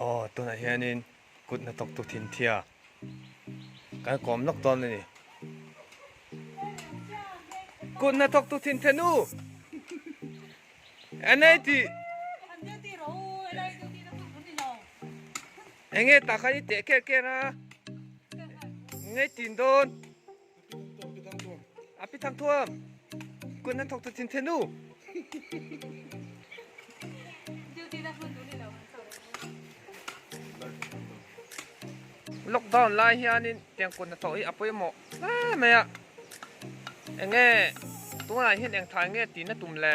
Aw, tunah hianin kut hna tawk tu thinthia kan kawm lawk dawn a ni. Kut hna tawk tu thinthia nu! Enei ti... Enge tah khan i teh ker ker a? Ngei tin dawn? Lockdown lai hianin eng kut hnathawh hi a pawimawh hle mai a, eng nge tunah hian engthah eng nge tihna tum le?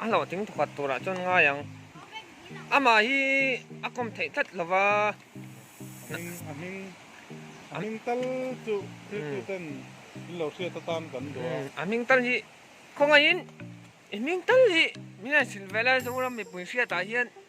A hlawh ting thawkhat tur ah chuan ngai ang. Amah hi a kawm theih tlat lo va. A hming, a hming, a hming tal chu Kristu ten in lo hriat atan kan duh a. A hming tal hi, khawngaih in i hming tal hi Minute silvela Zoram mipui hriat ah hian.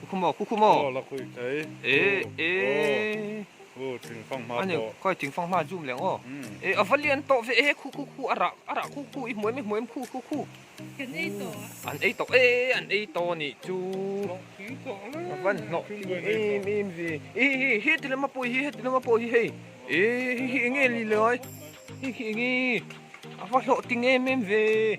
Ku khu maw, ku khu maw. Aw la khuih thei. E e. Aw. Aw ting fang hma pawh. Ani khawi ting fang hma zum leng aw. E a va lian tawh ve e khu khu khu a rah a rah khu khu i hmuaim i hmuaim khu khu khu. Kan ei tawh a. An ei tawh e an ei tawh a nih chu. Hnawh tling tawh le. A van hnawh tling em em ve. E e heti lama pawh hi heti lama pawh hi hei. E hei hi enge li lai. Hei hi enge a va hlawh ting em em ve.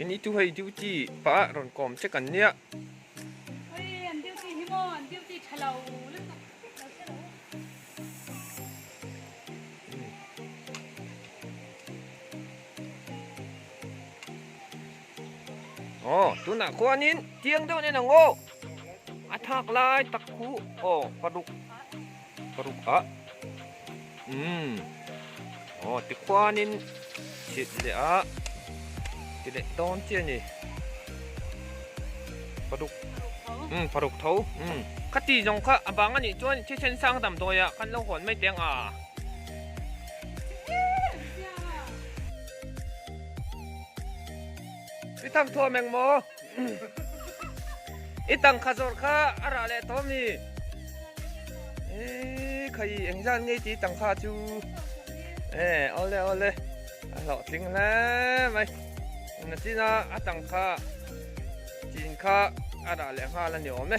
Eng i tu hei duty pah ah rawn kawm che kan nia. Hei an duty hi maw an duty tha lo lutuk. Aw tunah khuanin tiang deuh nen ang aw a thak lai tak thu aw paruk Paruk ah umm aw tikhuanin chhit leh a ti leh dawn chiah ni paruk umm paruk tho umm khati zawng kha a bang a nih chuan thisen sang dam dawi ah kan lo hawn mai teng a i thak thua meng maw. I tang kha zawrh kha a rah leh tawm ni. E khai eng zan ngei ti tang kha chu. E ole ole. A hlawh tling hle mai. Na china a tang kha chin kha a rah leh nghal a ni awm e.